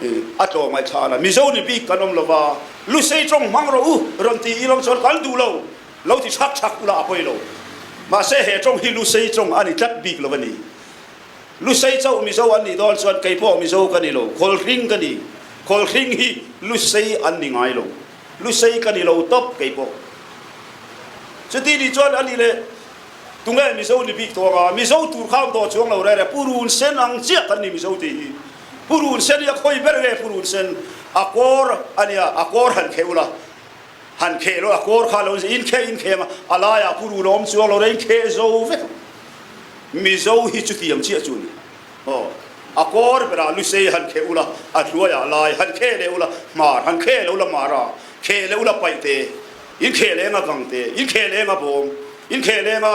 a tlawm ngai than a mizo mipi kan om lo va lusei trong mang ro u ram ti i lam chon kan du lo lo ti chak chak ula a poi lo ma se he trong hi lusei trong ani tlat bik lo ani lusei cho mizo an ni dol chuan kei po mizo kan ni lo khol ring kan ni khol ring hi lusei an ni ngai lo lusei kan ni lo top kei po chuti ni chuan ani le tunge mizo ni bik thonga mizo tur kham to chuang lo re re purun sen ang chiat an ni mizo ti hi purun sen ya khoi ber ve purun sen akor ania akor han khe ula han khe lo akor kha lo in khe in khe ma alaya puru lom chu lo rein khe zo vek mizo hi chu thiam chi chu ni ho akor bera lusei han khe ula atluaya lai han khe le ula mar han khe le ula mara khe le ula paite in khe le nga gang te in khe le nga bom in khe le nga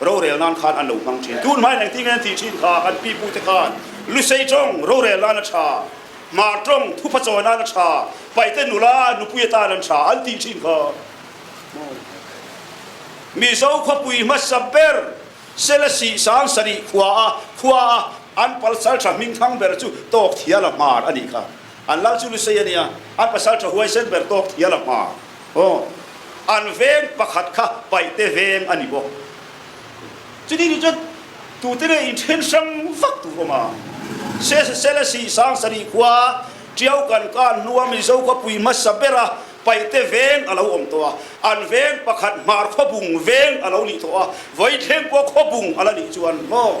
rorel nan khan an lo hmang chin tun mai nang ti ngen ti chin kha kan pipu te khan lusei chong rorel nan a tha ma trong thu pha chaw nan a tha paite nula nupuya ta nan tha an ti chin kha mizo khopui ma saber selasi sang sari khua a khua a an palsal tha ming thang ber chu tok thia la mar ani kha an lal cu lusei ani a an pasal ṭha huaisen ber to ya lang ma oh an veng pakhat kha paite veng ani bo chuni ni cun tu tene in ṭhen sang fak tu oma se se sele si sang sari khua ṭiau kan ka nuam i zo khua pui ma sapera paite veng alo om to a an veng pakhat mar kho bung veng alo ni to a voi thleng po kho bung ala ni chuan mo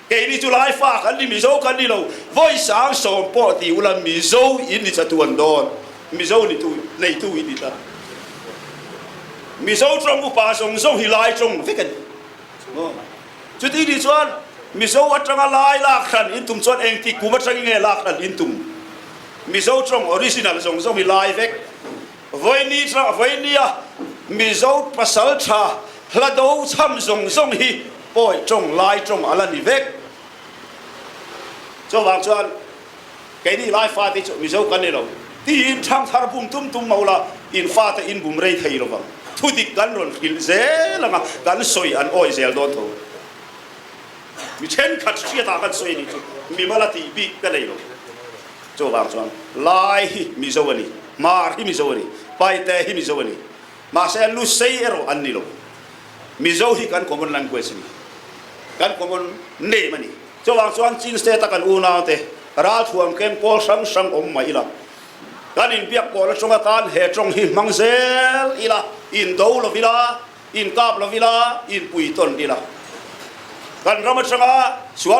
kei nih cu laifa kan ni mizo kan ni lo voi sang sawm pawh ti ulan mizo in ni chatuan don mizo ni tu neitu in ni ta mizo trom upa zong zong hi lai trong ve kan cuti ni chuan mizo atanga lai lak hran in tum chuan eng ti kuma tang nge lak hran in tum mizo trong original zong zong hi lai vek voini thla voini ah mizo pasal tha hlado cham zong zong hi poi trong lai trong ala ni vek chuwang chuan keini lai fa te chu mizo kan ni lo ti in thang thar bum tum tum maula in fa te in bum rei thei lo bang thu dik kan ron khil zel anga kan soi an oi zel don tho mi then khat hria ta kan soi ni chu mi mala ti bi ka nei lo cawvar chuan lai hi mizo ani mar hi mizo ani paite hi mizo ani mase lusei ero an ni lo mizo hi kan common language ni kan common name ani cawvar chuan chin state a kan unaute ral thuam kem pawl sang sang om mai ila kan in biak pawl a chunga tan he trong hi mang zel ila in do lo ila in kap lo ila in pui ton ila kan ram atanga sual